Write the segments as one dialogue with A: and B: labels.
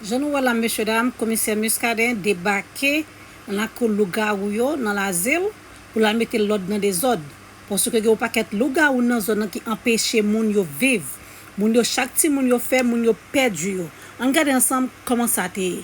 A: Jan nou wè la mesye dam, komisè Muscadin debake nan lakou lougawou yo nan Lazil pou l al mete lòd nan dezòd. Paske gen yon pakèt lougawou nan zòn nan ki anpeche moun yo viv. Moun yo chak timoun yo fè, moun yo pèdi yo. Ann gade ansanm kòman sa te ye.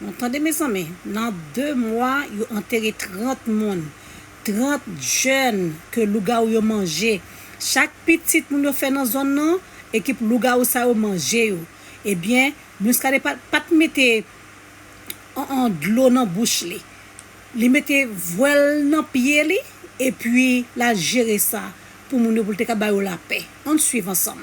A: Bon tande mezanmi nan 2 mwa yo antere 30 moun 30 jèn ke lougawou yo manje chak pitit moun yo fè nan zòn nan ekip lougawou sa yo manje yo ebyen Muscadin pat mete an dlo nan bouch li li mete vwèl nan pye li epi la jere sa pou moun yo poul te ka ba yo lapè ann swiv ansanm.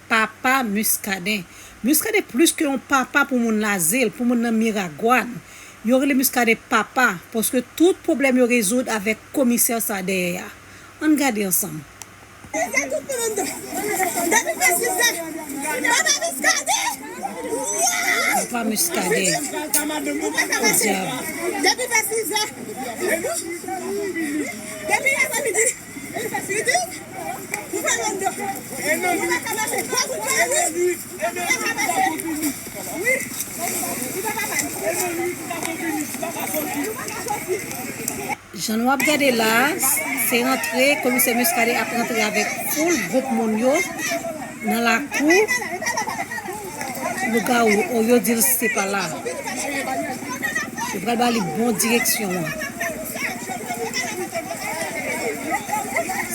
A: Papa Muscadin. Muscadin plus ke yon papa pou moun Lazil, pou moun nan Miragwan. Yo rele Muscadin papa paske tout pwoblèm yo rezoud avèk komisè sa dèyè a. Ann gade ansanm. Peze tout moun anndan. Depi preske sa. Papa Muscadin. Wouy! Papa Muscadin. Ou pa ka mache. Podyab. Depi vè 6 zè. Depi apremidi. Jan nou ap gade la, se rantre Komisè Muscadin ap rantre avèk foul gwoup moun yo nan lakou. Lougawou oh yo dil se pa la. Yo pral ba li bon direksyon an.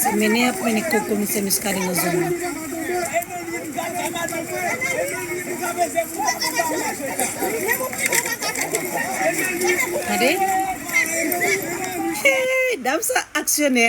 A: Se mennen yap mennen ko komisè Muscadin nan zòn nan. Tande. Dam sa aksyonè.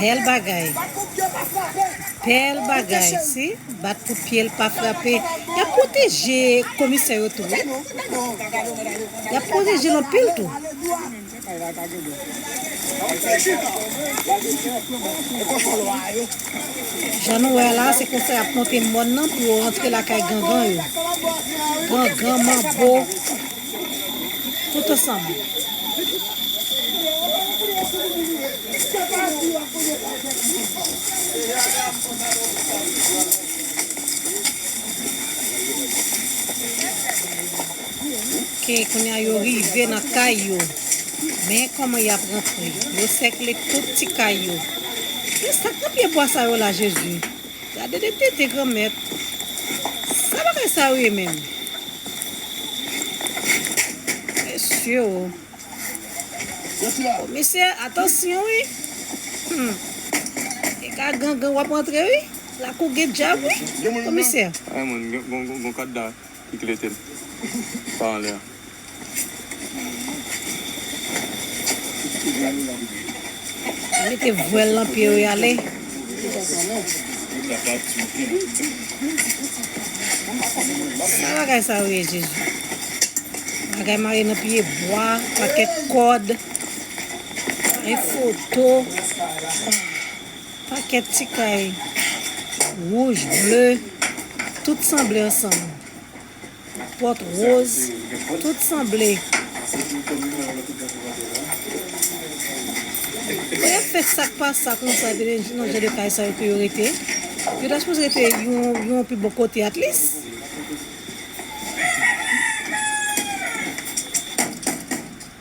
A: Bel bagay Bel bagay si bat kout pyel pa frape yap pwoteje komisè yo tou wi yap pwotejel anpil tou. Jan nou wè la se konsa yap monte mòn nan pou yo rantre lakay gangan yo. Gangan manbo. Tout ansanm. Ok, kounya yo rive nan kay yo. Men koman y ap rantre. Yo sèkle tout ti kay yo. Kisa k nan pye bwa sa yo la Jezi? Gade de tete granmèt. Sa bagay sa yo ye menm? Mesye o. Komisè, atansyon wi. E ka gangan wap antre wi. Lakou gen djab wi. Komisè.
B: Gon kòd la. Kiki rete l pa anlè an.
A: Mete vwèl lan pye yo yale. Sa bagay sa yo ye jezi. Bagay mare nan pye bwa, pakèt kòd, e foto. Pakèt ti kay wouj, ble, tout sanble ansanm. Pòt woz, tout sanble. Lè y ap fè sa k pa sa konsa epi gen nan jan de kay sa yo ke yo rete, yo ta sipoze rete yon pi bon kote atlis.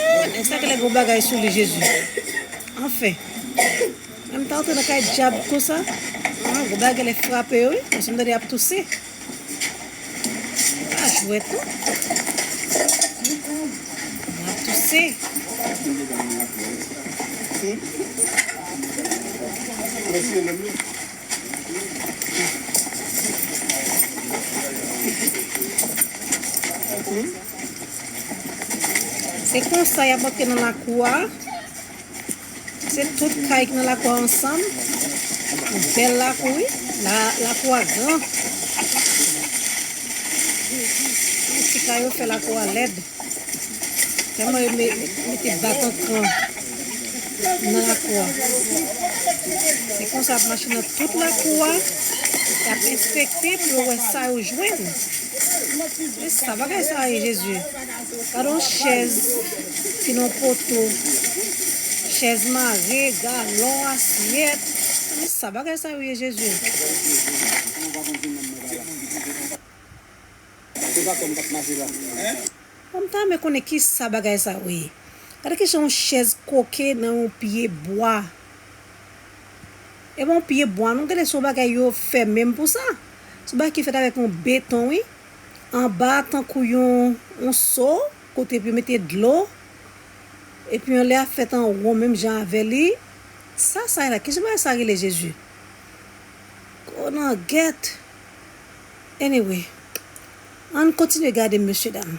A: Eeh nèg sa genlè gon bagay sou li jezi anfen Mwen mta antre nan kay dyab konsa Aah gon bagay genlè frape yo wi paske mtande yap touse Se pa jwèt non Moun ap touse Humm. Se konsa yap antre nan lakou a. Se tout kay ki nan lakou a ansanm. Yon bèl lakou wi. Lakou a gran. Ti kay yo fè lakou a lèd. Tèlman yo mete batan kran nan lakou a. Se konsa yap mache nan tout lakou a. Yap enspekte pou yo wè sa yo jwenn. Esa bagay sa ye jezi. Gade yon chèz ki nan poto. Chèz mare, galon, asyèt. Esa bagay sa yo ye jezi. Mwen ta renmen konnen kisa bagay sa yo ye. Gade kijan yon chèz koke nan yon pye bwa. E bon pye bwa non gade son bagay yo fè menm pou sa. Son bagay ki fèt avèk yon beton wi. Anba tankou yon yon so kote pou yo mete dlo. E pi yon lè a fèt an won menm jan avè li. Sa sa ye la? Kijan bagay sa rele Jezi? Konangèt! Anyway, ann kontinye gade mesye dam.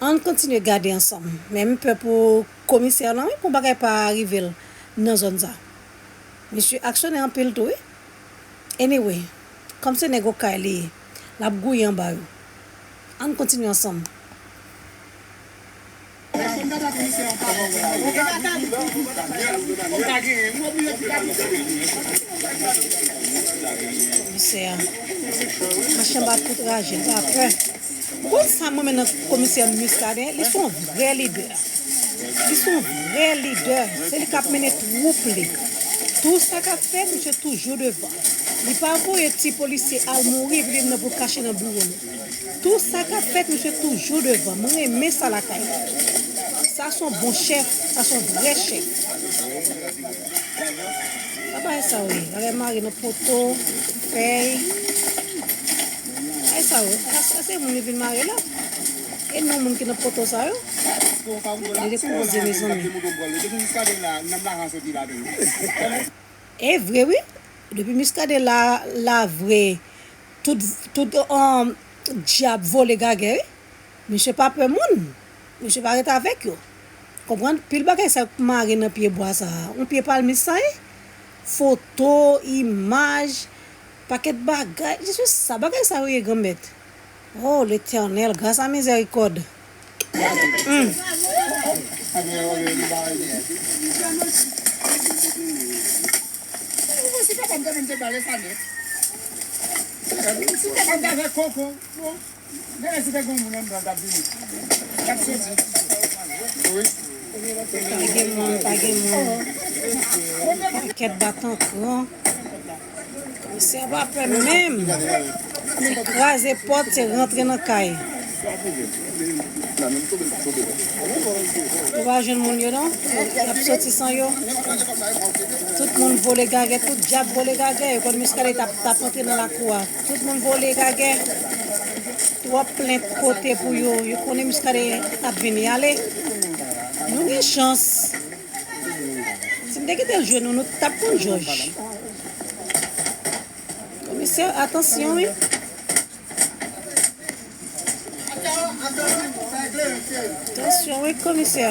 A: Ann kontinye gade ansanm. Men m pè pou komisè lan wi pou bagay pa rive l nan zòn sa. Misye aksyonè anpil tou wi. Anyway, kòm se nèg okay li ye, l ap gouye anba yo. Ann kontinye ansanm. Komisè a mache anba tout raje l pa pè. Bon sa m renmen nan komisè Muscadin li son vrè lidè li son vrè lidè se li kap mennen twoup li tou sa kap fè misye toujou devan li pa voye ti polisye al mouri epi li menm pou l kache nan biwo l tou sa kap fèt misye toujou devan m renmen sa lakay li sa son bon chèf sa son vrè chèf pa bagay sa w ye bagay mare nan poto fèy. Ay sa yo, sa se moun yo vin mare la? E non moun ki nan poto sa yo? Gade koze mezanmi. Evre wi, depi Muscadin la la vre tout tout dyab vole gagè wi. Misye pa pè moun, misye pa ret avèk yo. Konprann? Pil bagay sa yo k mare nan pye bwa sa, yon pye palmis sa ye? Foto, imaj. Paket bagay je suis sa bagay sa yo ye granmèt oh letènèl gras a mizèrikòd humm. Gade si te gen yon moun anndan l tap vini. Lap soti. Wi. Pa gen moun, pa gen moun. Pakèt batan kran. Mesye a pa pè menm. Se kraze pòt, se rantre nan kay. Ou pa jwenn moun yo non. Yap soti san yo. Tout moun vole gagè, tout dyab vole gagè. Yo konn Muscadin tap tap antre nan lakou a. Tout moun vole gagè. Trop plent kote pou yo. Yo konnen muscadin ap vin yale. Nou gen chans. Si m te kitel jwe nou nou tap konn joj. Komisè atansyon wi. Atansyon wi komisè.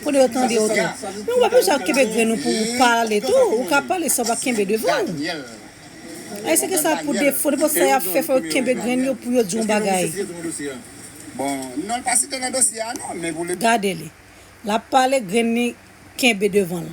A: Kote yo tande ou tou. Men ou pa bezwen ap kenbe grenn ou pou ou pale tou. Ou ka pale san ou pa kenbe devan ou. Ayisyen gen sa pou defo. Nenpòt sa y ap fè fò yo kenbe grenn yo pou yo di yon bagay.
B: Gade li. L
A: ap pale grenn li kenbe devan l.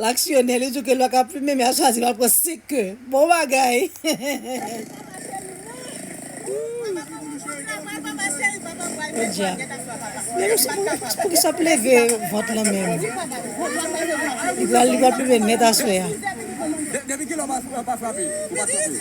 A: Laksyonè, li diw ke lwa ka plumen men a chwazi pa pran 5 ke. Bon bagay! Podyab. Men nou se pou kisa ap leve vant lan menm. Li pral plumen nèt aswè a.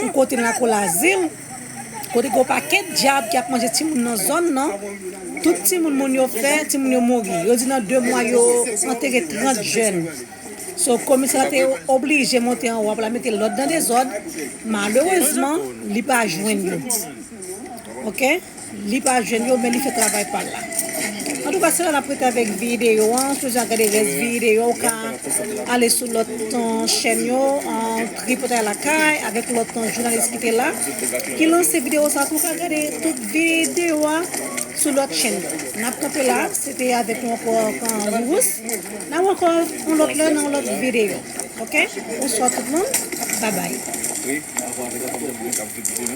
A: Yon kote nan lakou Lazil, kote gen yon pakèt dyab ki ap manje timoun nan zòn nan, tout timoun moun yo fè, timoun yo mouri. Yo di nan 2 mwa yo antere 30 jèn. So komisè la te oblije monte anwo a pou l al mete lòd nan dezòd, malerezman li pa jwenn yo. Ok. Li pa jwenn yo men li fè travay pal la. Antouka sila nap rete avèk videyo an sou jan gade rès videyo an ou ka ale sou lòt chèn yo tripotay lakay avèk lòt jounalis kite la ki lanse videyo sa pou ka gade tout videyo a sou lòt chèn yo nap kanpe la se te avèk nou ankò Rirous nap wè ankò yon lòt lè nan yon lòt videyo ok bonswa tout moun babay.